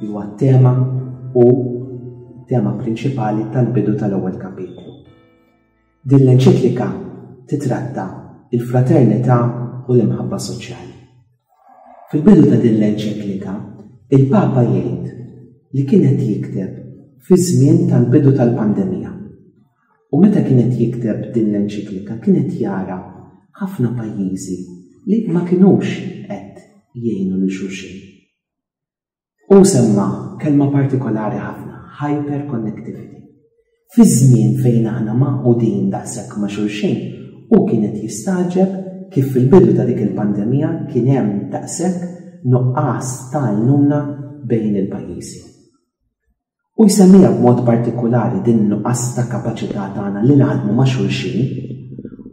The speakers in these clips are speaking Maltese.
li huwa t-tema u tema prinċipali tal-bidu tal-ewwel kapitlu. Din l-enċiklika titratta il-fraternità u l-imħabba soċjali. Fil-bidu ta' din l-enċiklika, il-Papa jgħid li kienet jikteb fi żmien tal-bidu tal-pandemija. U meta kienet jikteb din l-enċiklika kienet jara ħafna pajjiżi li ma kinux qed jgħinu li xulxin Hu semma kelma partikolari ħafna, hyperconnectivity. Fi żmien fejn aħna magħqudin daqshekk ma' xulxin, hu kien qed jistagħġeb kif fil-bidu ta' dik il-pandemija kien hemm daqshekk nuqqas ta' għajnuna bejn il-pajjiżi. u jsemmiha b'mod partikulari din in-nuqqas ta' kapaċità tagħna li naħdmu ma' xulxin,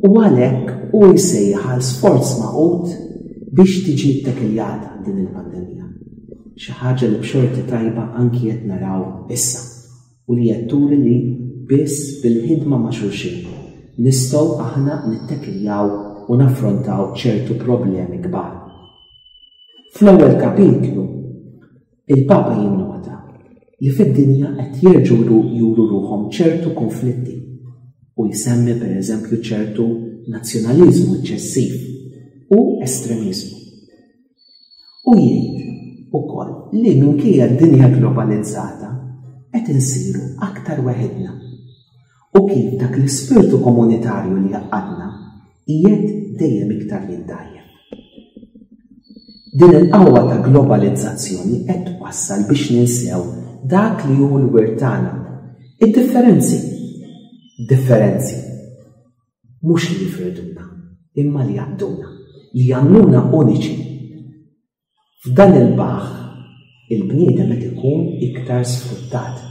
u għalhekk hu jsejjaħ għal sforz magħqud biex tiġi ttekiljata din il-pandemija. Xi ħaġa li b'xorti tajba anki qed naraw issa u li qed turi li biss bil-ħidma ma' xulxin nistgħu aħna nittekiljaw u naffrontaw ċertu problemi kbar. Fl-ewwel kapitlu, Il-Papa jinnota li fid-dinja qed jerġgħu juru ruħhom ċertu kunflitti u jsemmi pereżempju ċertu nazzjonaliżmu eċċessiv u estremiżmu. U jgħid ukoll li minkejja d-dinja globalizzata qed insiru aktar weħidna U kif dak l-ispirtu komunitarju li jaqadna qiegħed dejjem iktar jindajjef. Din il-qawwa ta' globalizzazzjoni qed twassal biex ninsew dak li hu l-wirt tagħna. Id-differenzi. Differenzi. Mhux li jifriduna, imma li jaqduna, li jagħmluna uniċi. F'dan il-baħħ, il-bniedem qed ikun iktar sfruttat.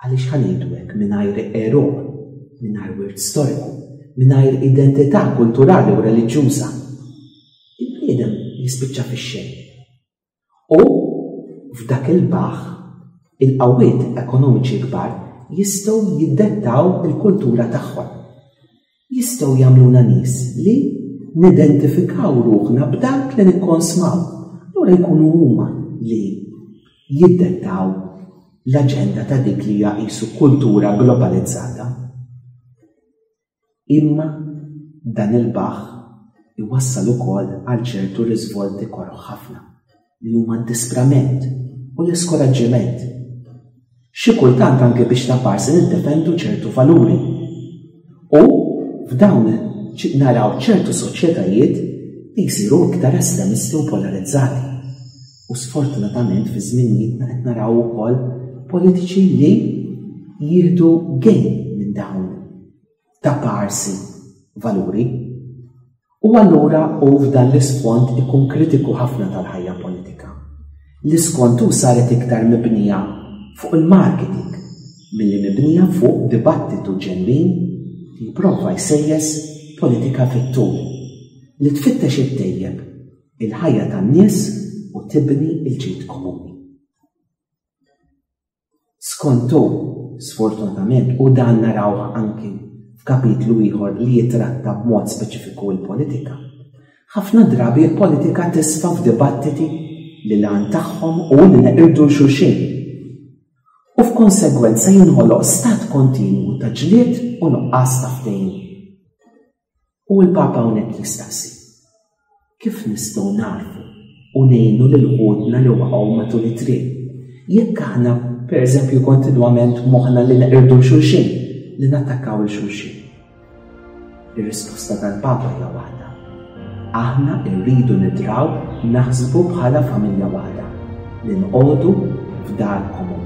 Għaliex ħa ngħidu hekk mingħajr għeruq, mingħajr wirt storiku, mingħajr identità kulturali u reliġjuża? Il-bniedem jispiċċa fix-xejn. U f'dak il-baħħ, il-qawwiet ekonomiċi kbar jistgħu jiddettaw il-kultura tagħhom. jistgħu jagħmluna nies li nidentifikaw ruħna b'dak li nikkonsmaw. Lura jkunu huma li jiddettaw l-aġenda ta' dik li hija qisu kultura globalizzata. Imma dan il-baħ iwassal ukoll għal ċertu riżvolti koroħ ħafna. li huma d-disprament u l-iskoraġġiment. Xi kultant anke biex ta' parsi niddefendu ċertu valuri. U f'dawn naraw ċertu soċjetajiet li jsiru iktar estremisti u polarizzati. U sfortunatament fi żminijietna qed naraw ukoll politiċi li jieħdu gejn minn dawn ta' parsi valuri. U allura u f'dan l-isfond ikun kritiku ħafna tal-ħajja politika. L-iskont u saret iktar mibnija fuq il-marketing milli mibnija fuq dibattitu ġenwin li prova jsejjes politika fit-tul li tfittex it-tejjeb il-ħajja tan-nies u tibni l-ġid komuni. Skontu, sfortunatament, u dan narawh anki f'kapitlu ieħor li jitratta b'mod speċifiku l-politika, ħafna drabi l-politika tisfa f'dibattiti li l-għan tagħhom u li neqirdu l-xulxin. U f'konsegwenza jinħoloq stat kontinwu ta' ġlied u nuqqas ta' ftehim. U l-Papa hawnhekk jistaqsi, kif nistgħu narfu u ngħinu lil ħudna li waqgħu matul it-triq? Jekk aħna, pereżempju, kontinwament moħħna li neqirdu xulxin, li nattakkaw il xulxin. Ir-risposta tal-Papa hija waħda. Aħna rridu nidraw naħsbu bħala familja waħda li nqogħdu f'dar komuni.